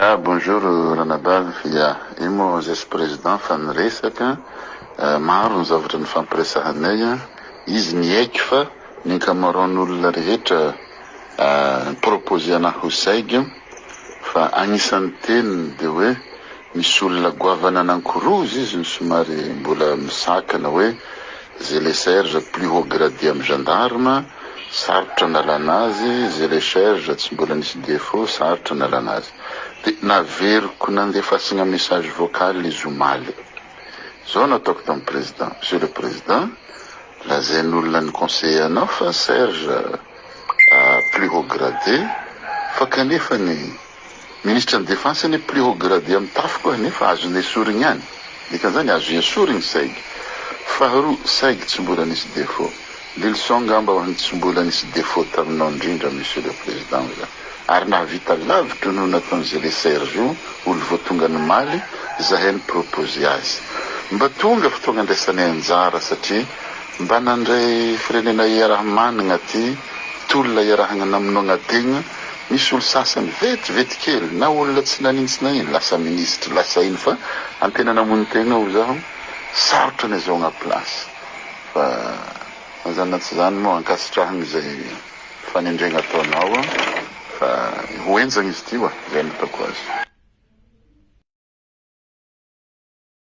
Ah bonjour Ranabavy ya, io moa zay tsy président fa ny resaka maro ny zavatra nifampiresahanay an, izy niaiky fa ny ankamaroan' olona rehetra mi-proposer anah ho saigo fa agnisan' ny teniny dia hoe misy olona goavana nankoroza izy no somary mbola misakana hoe, Zélé Serge plus haut gradé am gendarme, sarotra nalana azy, Zélé Serge tsy mbola nisy défaut, sarotra nalana azy. Dia naveriko nandefasagna message vocal izy omaly. Zao no ataoko tam président, Monsieur le président, lazain'olona ny conseiller anao fa Serge a plus haut gradé fa kanefany, Ministra ny defense anie plus haut gradé am tafo koa nefa azo nesorigny ihany. Dikan'izany azo hensorigny saigy. Faharoa, saigy tsy mbola nisy défaut. Lily son ngamba ho an'ny tsy mbola nisy défaut taminao indrindra Monsieur le Président hoy za. Ary nahavita lavitra noho nataon'i Zele Serge io olo vao tonga nimaly zahay ni-proposer azy. Mba tonga fotoagna andraisanay anjara satria. Mba nandray firenena iaraha-manana ty tolona iarahana namonoana tegna, misy olo sasany vetivety kely na olona tsy nanintsy na ino lasa ministry lasa ino fa antena namono tegna oa zaho sarotra ny azahoagna place fa na zany na tsy zany moa ankasitrahagna izay fanendregna ataonao oa fa ho henjagna izy ty oa zay no ataoko azy.